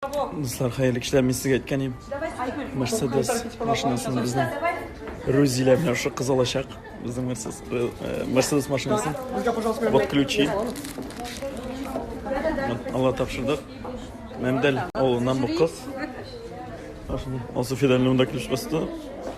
Дуслар, хәерле кичләр, мин сезгә әйткән идем. Мерседес машинасын безнең Рузилә белән шушы кыз алачак. Безнең Мерседес, э, Мерседес машинасын. Вот ключи. Вот, Алла тапшырдык. Мәмдәл авылыннан бу кыз. Ашны. Алсу Фидан монда ключ кысты.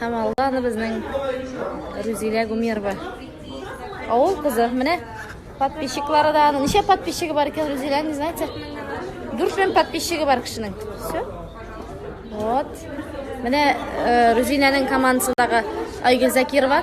Һәм алда аны безнең Рузилә Гумерова. Авыл кызы. Менә подписчиклары да аның. Ничә подписчигы бар икән Рузилә, не знаете? Дүрт мең подписчигы бар кешенең. Все. Вот. Менә э, Рузиләнең командасындагы Айгөл Закирова.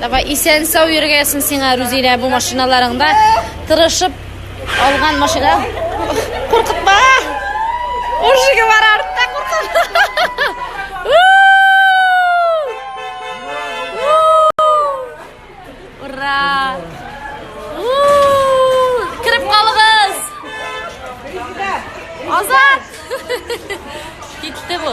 Давай исән сау йөргәсен сиңа Рузилә бу машиналарыңда тырышып алган машина. Куркытма! Ужиге бар артта куркытма. Ура! Кирип калыгыз! Азат! Китте бу.